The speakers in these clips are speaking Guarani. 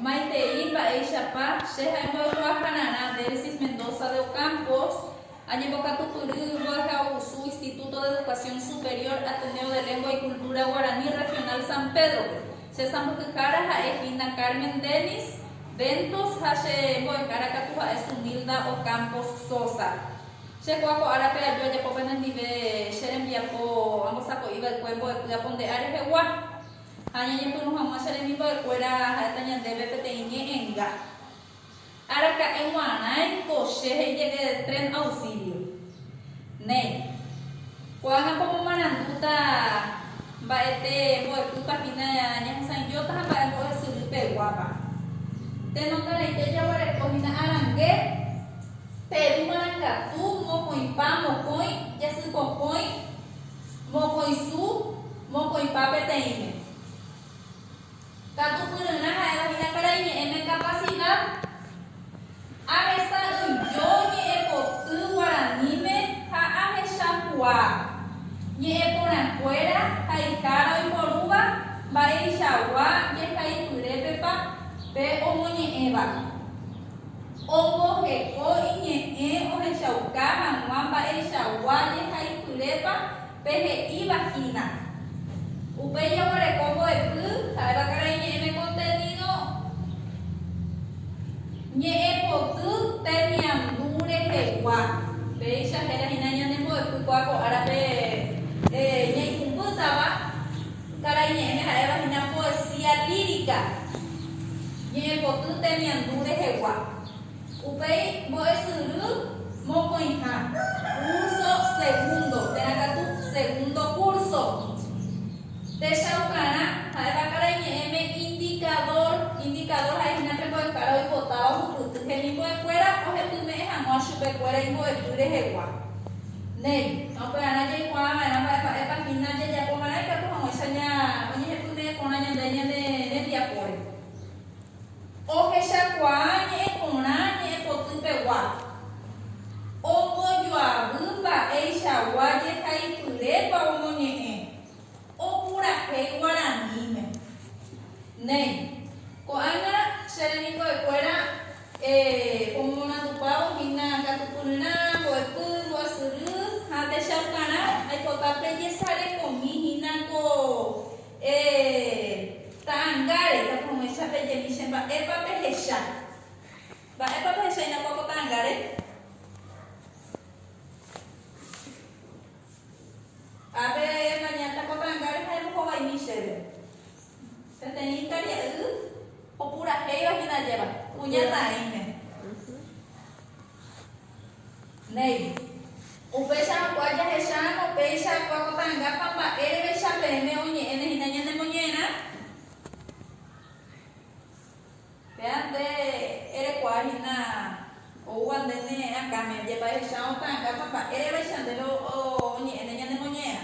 Maitei mba'éichapa che ha'e mbo'ekuaa Jararã, Delsis Mendoza de Ocampos, añembokatupyry mbo'ehaovusu Instituto de Educación Superior Ateneo de Lengua y Cultura Guaraní Regional San Pedro-pe. Che sãmbyhyhára ha'e Hilda Carmen Dennis Ventos ha che mbo'ehára katu ha'e Zunilda Ocampos Sosa. Che kua ko árape aju ajapo pene ndive che rembiapo ambosako'i va'ekue mbo'epy apo nde ári rehegua. Ha añeñepyrũ hag̃ua che rembimbo'ekuéra ha'éta ñandéve peteĩ ñe enga. Araka'e g̃uarãi ko che he'i jege tren auxilio. Néi. Ko'ág̃a pomomarandúta mba'ete mbo'epýpa hína ñahesãijóta ha mba'e mbo'esyry peguápa. Tenongarãite jaguereko hína arangue Peru marangatu, mokõipa, mokõi, jasypokõi, mokõisu, mokõipa peteĩme. Katu pyryrã ha'éva hína karai ñe'ẽme kapasida. Ahesa'ỹijo ñe'ẽpoty guaraníme ha ahechakuaa. Ñe'ẽporãkuéra ha ikára oiporúva mba'eichagua jehaipyrépepa pe omoñe'ẽva. Omboheko iñe'ẽ ohechauka hag̃ua mba'eichagua jehaipyrépa Pe he'íva hína. Upéi jaguereko mbo'epy ha'éva karai ñe'ẽme contenido ñe'ẽpoty temiandu rehegua. Péicha héra hína ñane mbo'epy kua ko árape ñaikumbýtava karai ñe'ẽme ha'éva hína poesía lírica ñe'ẽpoty temiandu rehegua. Upéi mbo'esyry mokõiha, kúrso segúndo, térã katu segúndo kúrso. Techaukarã ha'éva karai ñe'ẽme indikadór. Indikadór ha'e hína pe mbo'ehára oipotáva hupyty hemimbo'ekuéra ohepyme'ẽ hag̃ua chupekuéra imbo'epy rehegua. Néi, ha upearã jaikuaa va'erã mba'emba'épa hína jajapo va'erã ikatu hag̃uáicha oñehepyme'ẽ porã ñande ñane rembiapóre. Ohechakuaa ñe'ẽ porã ñe'ẽ poty pegua, ombojoavy mba'eichagua jehaipyrépa omoñe'ẽ opurahéi guaraníme. Néi, ko'ág̃a che remimbo'ekuéra omomondupávo hína katupyryrã, mbo'epy, mbo'esyry ha techaukarã, aipota pejesarekomi hína ko Eee. Ta'angáre, tapurumecha pejemi che mba'épa pehecha. Mba'épa pehecha inakua ko ta'angáre? Ha pe mañáta ko ta'angáre ha embohovaimi chéve. Peteĩ ikaria'y opurahéiva hína ajéva, kuña taĩme. Néi. Upeichakuaa jahecháramo upéicha kuakotangapa mba'érevecha peẽme oñe'ẽne hína ñane moñe'ẽrã. Péa nde erekuaa hína oúva ndéne akãme, ajepaichacháramo otangapa mba'érevecha ndéve oñe'ẽne ñane moñe'ẽrã.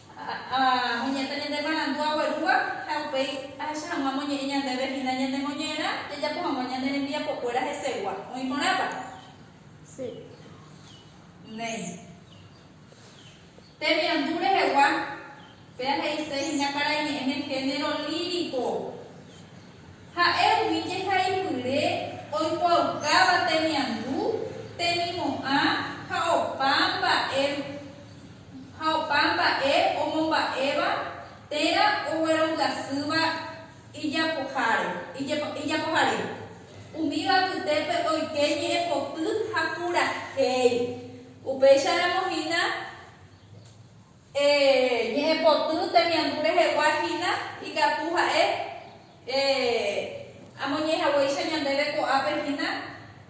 Ha oñe'ẽta ñande marandu aguerúva, ha upéi ahecha hag̃ua amoñe'ẽ ñandéve hína ñande moñe'ẽrã jajapo hag̃ua ñande rembiapokuéra hesegua. Oĩ porãpa? Sí. Néi. Temiandu rehegua, péa he'ise hína karaiñe'ẽme género lírico. Ha'e umi jehaipyre oikuaaukáva temiandu, temimo'ã ha opa mba'e ha opa mba'e omomba'éva térã oguerongasýva ijapoháre, ijapohare. Umíva apytépe oike ñe'ẽpoty ha purahéi. Upéicharamo hína. Ñe'ẽpoty temiandu rehegua hína ikatu ha'e amoñehaguéicha ñandéve ko'ápe hína,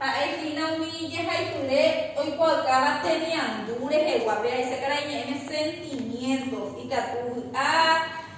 ha'e hína umi jehaipyre oikuaaukáva temiandu rehegua, pe aise karai ñe'ẽme sentimientos, ikatu vy'a,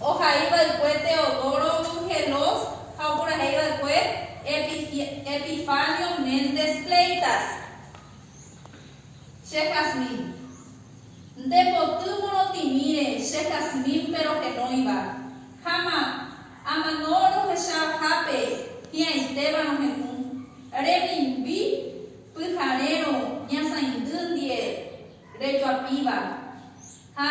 Ohai va'ekue Teodoro Dugelos ha opurahéi va'ekue Epifanio Méndez Fleitas. Che Jasmine. Nde poty morotĩmíre che Jasmine pe rohenóiva, ha ma, amano rohecha hápe hi'ãitéva rohendu, remimbi pyharérõ ñasãindy ndie, rejoapíva, ha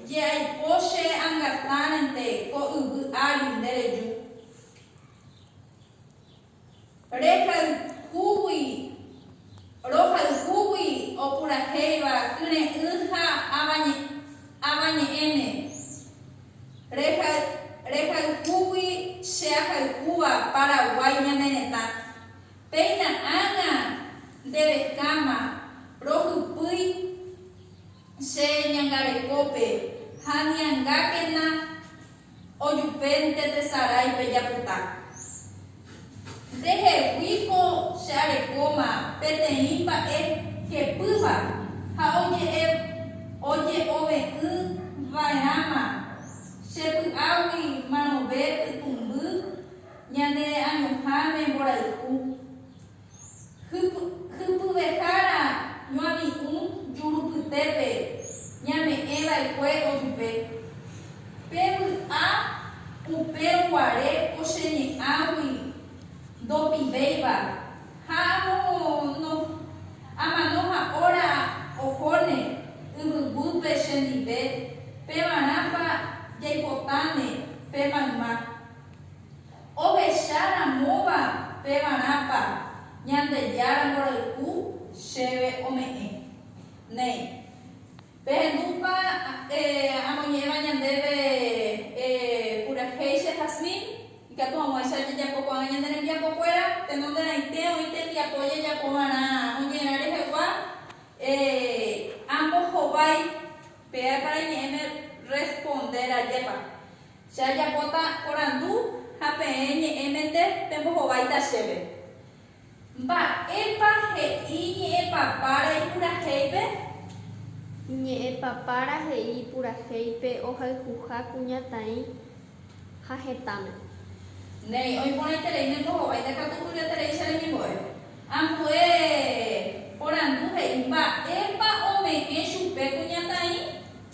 je aipo che angatãrente ko yvy ári nde reju. Rehayhúgui, rohayhúgui opurahéiva kyre'ỹ ha avañe'ẽme, rehayhúgui che ahayhúva Paraguái ñane retã, Péina ág̃a nde rekáma rohupýi che ñangarekópe ha niangákena ojupénte tesarái pe japuta. Ndehegui ko che arekóma peteĩ mba'e hepýva ha oje'e oje'ove'ỹ va'erãma che py'águi manove pytũmby Ñande añoháme mborayhu. Hypyvehára ñoami'ũ jurupytépe ñame'ẽ va'ekue ojupe. Pe vy'a upe ruguare ko che ñe'ãgui ndopivéiva ha amono amano ha óra ohóne yvyguýpe chendive pevarãpa jaipotãne pe mayma. Ohecha ramóva pevarãpa Ñandejára mborayhu chéve ome'ẽ. Néi. Pehendúpa amoñe'ẽva ñandéve purahéicha Jasmine, ikatu hag̃uáicha jajapo ko'ág̃a ñande rembiapokuéra, tenonderãite oĩ tembiapo jajapovarã oñe'ẽrã rehegua, ambohovái peáka reñe'ẽme rrespondér ajépa. Che ajapóta porandu ha peẽ ñe'ẽmente pembohováita chéve, Mba'épa he'i ñe'ẽpapára ipurahéipe? Ñe'ẽpapára he'i ipurahéipe ohayhuha kuñataĩ ha hetãme. Néi, oĩporãiterei nembohováita katu tujatereicha reñembo'e. Ambue porandu he'i, Mba'épa ome'ẽ chupe kuñataĩ?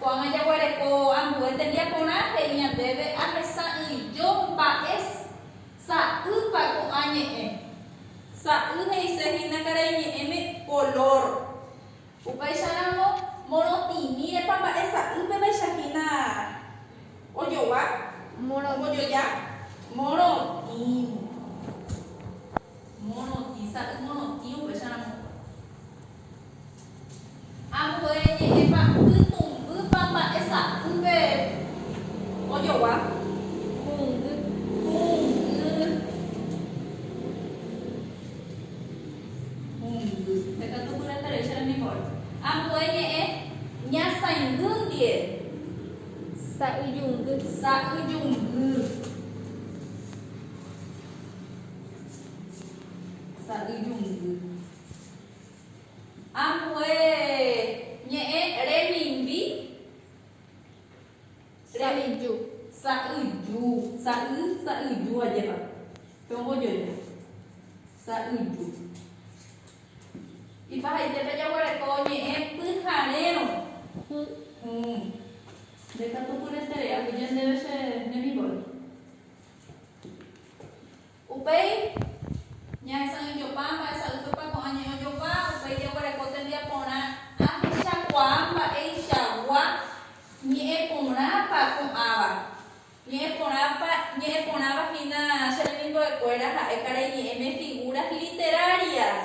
Ko'ág̃a jaguereko ambue tembiaporã he'i ñandéve ahesa'ỹijo mba'es sa'ýpa ko'ã ñe'ẽ. Sa'y he'ise hína karai ñe'ẽme color. Upéicharamo morotĩmirepa mba'e sa'y pevaicha hína ojogua, ombojoja. Morotĩ. Morotĩ. Sa'y morotĩ upéicharamo. Ambue ñe'ẽpa pytũmbýpa mba'e sa'ýpe ojogua? Kũngy, kũngy, kũngy. Pe katu guyra tareícha rembimbóre. Ambue ñe'ẽ ñasãingýndie. Sa'yjungy. Sa'yjungy. Sa'yjungy. Ambue ñe'ẽ remimbi, sa'yju, sa'yju, sa'y, sa'yju ajépa, pe ombojoja, sa'yju. Ipahaitépe jaguereko ñe'ẽ pyharérõ, hũ, hũ. Ndekatupyretere'águi ñandéve che remimbóre. Upéi, ñahesa'ỹijopa mba'esa'ỹijopa ko'ã ñe'õjopa, upéi jaguereko tembiaporã ahechakuaa mba'eichagua ñe'ẽporãpa ko'ãva. Ñe'ẽporãpa, ñe'ẽporãva hína che remimbo'ekuéra ha'e karai ñe'ẽme figuras literarias,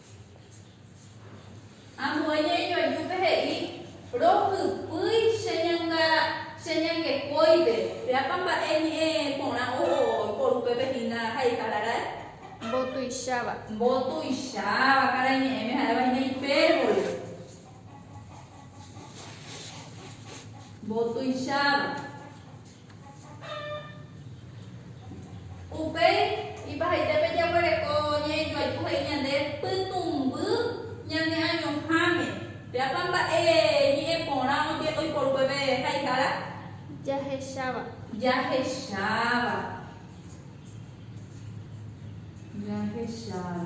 Ambue ñe'ẽjoajúpe he'i, Rohupýi che ñanga, che ñangue kóipe. Péapa mba'e ñe'ẽ porã oho iporu upépe hína ha ikararái? Mbotuicháva. Mbotuicháva, karai ñe'ẽme ha'éva hína ipérbole. Mbotuicháva. Upéi ipahaite pejaguereko ñe'ẽjoaju he'i ñande pytũmby ñane añoháme. Péapa mba'e ñe'ẽ porã oiporu peve haihára? Jahecháva. Jahecháva. Jahecháva.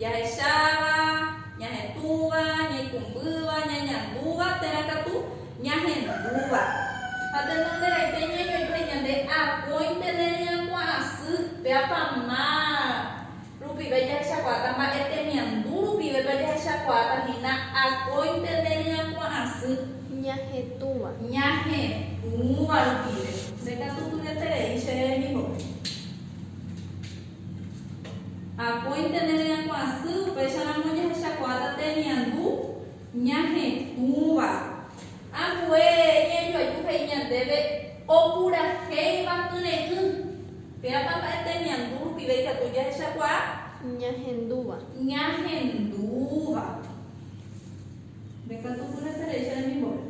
Jahecháva, ñahetũva, ñaikumbýva, ñañandúva térã katu ñahendúva. Ha tenonderãite ñañoite ñande akóinte ne ryakuã'asy, péapa ma rupive jahechakuaáta mba'e temiandu rupivépa jahechakuaáta hína akóinte ne ryakuã'asy. Ñahetũva. Ñahetũva rupive. Nde katu tureterei che rembimbo'e. Akóinte nde ryakuãsy, upéicharamo jahechakuaáta temiandu ñahetũva. Ambue iñanduaju he'i ñandéve opurahéiva kyre'ỹ. Péapa mba'e temiandu rupive ikatu jahechakuaa? Ñahendúva. Ñahendúva. Ndekatupyry etereicha remimbore.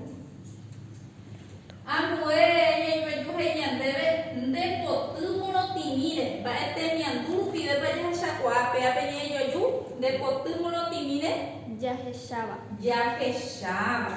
Ambue ñaimeju he'i ñandéve nde poty morotĩmíre. Mba'e temiandu rupivépa jahechakuaa péape ñe'ẽjoju nde poty morotĩmíre? Jahecháva. Jahecháva.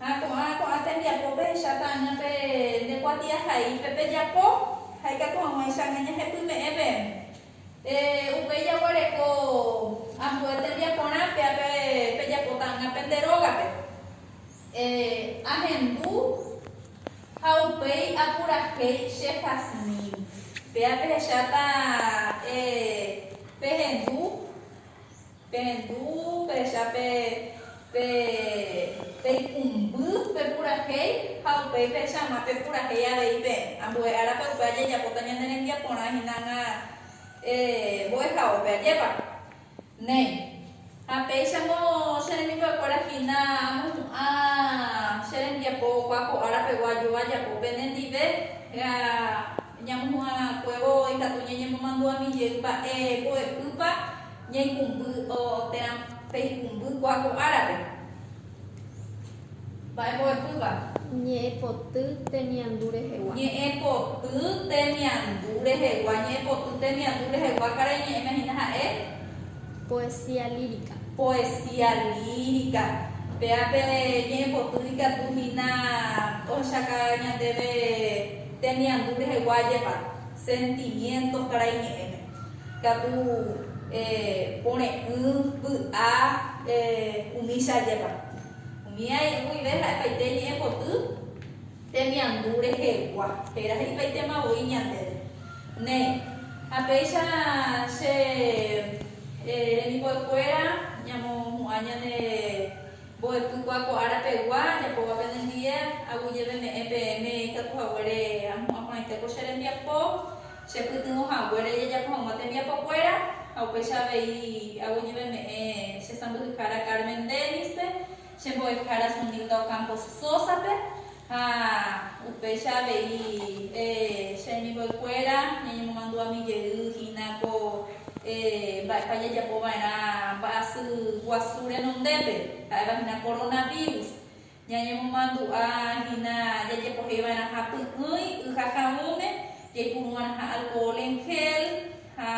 Ha ko'ã ko'ã tembiapo pehecháta aña pe nde kuatiaha'i pe pejapo, ha ikatu hag̃uáicha aña ñahepyme'ẽ pe e, upéi jaguareko ambue tembiaporã pe ape pejapóta aña pe nde rógape e, ahendu ha upéi apurahéi che Jasmín, péa pehecháta e pehendu. Perendu pehecha pe pe peikũmby pe purahéi ha upéi pehecha hag̃ua pe purahéi avei peẽ. Ambue árape upe ajejapóta ñane rembiaporã hinag̃a mbo'ehaópe. Ajépa? Néi. Ha péichamo che remimbo'ekuéra hína amohu'ã che rembiapo opa ko ára pegua ajúva ajapo pene ndive ha ñamohu'ã kuévo ikatu ñañemomandu'ami jey mba'e mbo'epýpa Ñaikũmby oo térã peikũmby ko'a ko árape. Mba'e mbo'epýva. Ñe'ẽ poty temiandu rehegua. Ñe'ẽ poty temiandu rehegua. Ñe'ẽ poty temiandu rehegua karai ñe'ẽme hína ha'e. Poesía lírica. Poesía lírica. Péa pe ñe'ẽ poty ikatu hína ohechaka ñandéve temiandu rehegua ajépa, sentimientos karai ñe'ẽme. Katu pore'ỹ vy'a umícha ajépa. Umi ae guive ha'epaite ñe'ẽpoty temiandu rehegua, héra he'ipaitema voi ñandéve. Néi, ha péicha che remimbo'ekuéra ñamohu'ã ñane mbo'epykua ko ára pegua ajapóva penendive, aguyjeveme'ẽ peẽme ikatu haguére ahu'ã porãite ko che rembiapo, chepytyvõ haguére jajapo hag̃ua tembiapokuéra, ha upéicha avei aguijeveme'ẽ che sãmbyhyhára Carmen Dennis-pe, che mbo'ehára Zunilda Ocampo Sosa-pe, ha upéicha avei che remimbo'ekuéra ñañemomandu'ami jey hína ko mba'épa jajapo va'erã mba'asy guasu renondépe, ha'éva hína Coronavirus. Ñañemomandu'a hína jajepohei va'erãha py'ỹi y ha ha'ỹme, jaipuru va'erãha alcohol en gel ha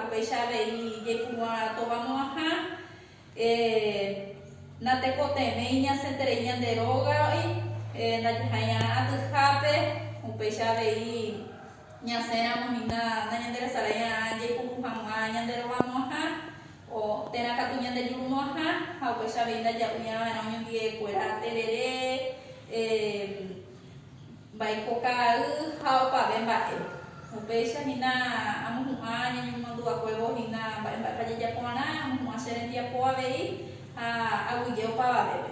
upéicha avei jaipuru va'erã tovamo'ãha. Natekotevẽi ñasẽterei ñande rógagui, ndajehai'arã atyhápe, upéicha avei ñasẽramo hína nañanderesarai'arã jaipuru hag̃ua ñande rovamo'ãha. Ko térã katu ñande jurumo'ãha ha upéicha avei ndaja'uñava'erã oñondive'ekuéra terere, mbaiko kaa'y ha opave mba'e. Upéicha hína amohu'ã ñañemomandu'akuévo hína mba'e mba'épa jajapo'arã, amohu'ã che rembiapo avei ha aguyje opavavépe.